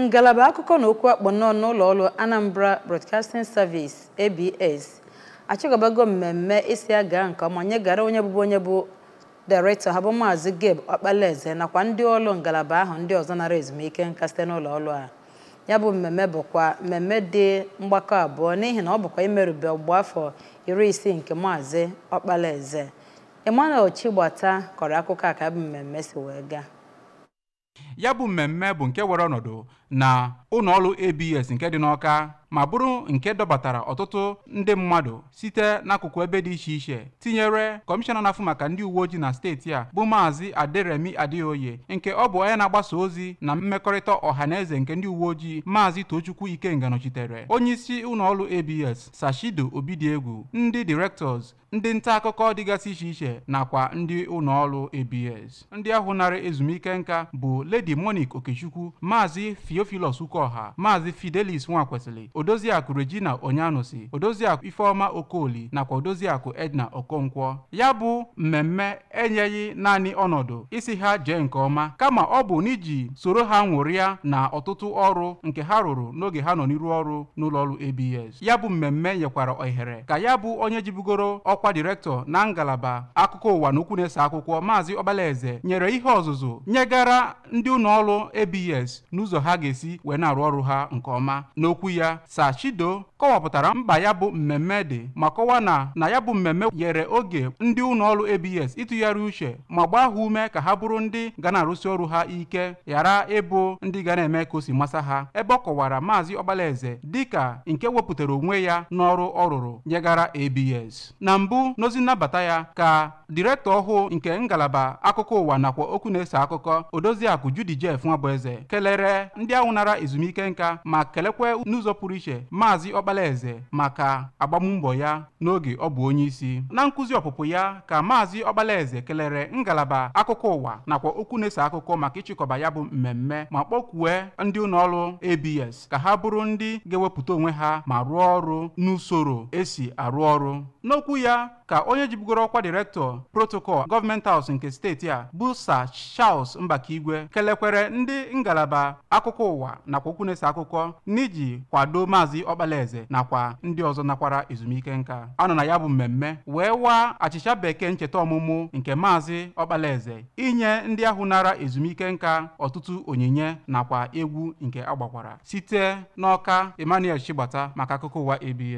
ngalaba akụkọ na okwu akpụ n'ọnụ n'ụlọ ọrụ Anambra Broadcasting Service ABS achịkọbago mmemme ịsị ya gaa nke ọma nyegara onye bụbu onye bụ dairektọ ha bụ maazị Gabe Ọkpalaeze nakwa ndị ọrụ ngalaba ahụ ndị ọzọ nara ezumike nka site n'ụlọ ọrụ a ya bụ mmemme bụkwa mmemme dị mgbakọ abụọ n'ihi na ọ bụkwa imerube ọgbụgba afọ iri isii nke maazị Ọkpalaeze Emmanuel Chigbata kọrọ akụkọ a ka ya bụ mmemme si wee gaa ya bụ mmemme bụ nke were ọnọdụ na ụlọ ọrụ ABS nke dị n'Ọka ma bụrụ nke dọbatara ọtụtụ ndị mmadụ site n'akụkụ ebe dị iche iche tinyere kọmishọna na-afụ maka ndị uwe ojii na steeti a bụ maazị Aderemi Adeoye nke ọ bụ onye na-agbasa ozi na mmekọrịta ọha na eze nke ndị uwe ojii maazị Tochukwu Ikenga nọchitere onye isi ụlọ ọrụ ABS Sir Chido Obidiegwu ndị directors ndị nta akụkọ dịgasị iche iche nakwa ndị ụlọ ọrụ ABS ndị ahụ nara ezumike nka bụ Lady Monique Okechukwu Maazị Theophilus Ukoha Maazị Fidelis Nwakwesịlị Odoziakụ Regina Onyanusi Odoziakụ Ifeoma Okoli nakwa Odoziakụ Edna Okonkwo ya bụ mmemme enyeghị naanị ọnọdụ ịsị ha jee nke ọma kama ọ bụ n'iji soro ha ṅụrịa na ọtụtụ ọrụ nke ha rụrụ n'oge ha nọ n'iru ọrụ n'ụlọọrụ ABS ya bụ mmemme nyekwara ohere ka ya bụ onye jibugoro ọkwa direktọ na ngalaba akụkọ ụwa na okwu na-eso akụkọ maazị ọkpalaeze nyere ihe ọzụzụ nyegara ndị ụlọ ọrụ abs n'ụzọ ha ga-esi wee na-arụ ọrụ ha nke ọma n'okwu ya sir chido kọwapụtara mkpa ya bụ mmemme dị ma kọwaa na na ya bụ mmemme nyere oge ndị ụlọ ọrụ abs ịtụgharị uche ma gbaa ha ume ka ha bụrụ ndị ga na-arụsi ọrụ ha ike ghara ịbụ ndị ga na-eme ka o si masa ha ebe ọ kọwara maazị ọkpalaeze dịka nke wepụtara onwe ya n'ọrụ ọ rụrụ nyegara abs na mbụ n'ozi nnabata ya ka direktọ ọhụụ nke ngalaba akụkọ ụwa nakwa okwu na-eso akụkọ odoziakụ judy jeff nwabụeze kelere ndị ahụ nara ezumike nka ma kelekwe n'ụzọ pụrụ iche maazị ọkpalaeze maka agbammbọ ya n'oge ọ bụ onye isi na nkụzi ọpụpụ ya ka maazị ọkpalaeze kelere ngalaba akụkọ ụwa nakwa okwu na-eso akụkọ maka ịchịkọba ya bụ mmemme ma kpọkwue ndị ụlọọrụ abs ka ha bụrụ ndị ga-ewepụta onwe ha ma rụọ ọrụ n'usoro e si arụ ọrụ n'okwu ya ka onye jibugoro ọkwa direktọ protocol government house nke steeti a bụ sir Charles Mbakaigwe kelekwere ndị ngalaba akụkọ ụwa nakwa okwu na-eso akụkọ n'iji kwado maazị Ọkpalaeze nakwa ndị ọzọ nakwara ezumike nka a nọ na ya bụ mmemme wee waa achịcha bekee ncheta ọmụmụ nke maazị Ọkpalaeze inye ndị ahụ nara ezumike nka ọtụtụ onyinye nakwa egwu nke a gbakwara site n'Ọka Emmanuel Chigbata maka akụkọ ụwa ABS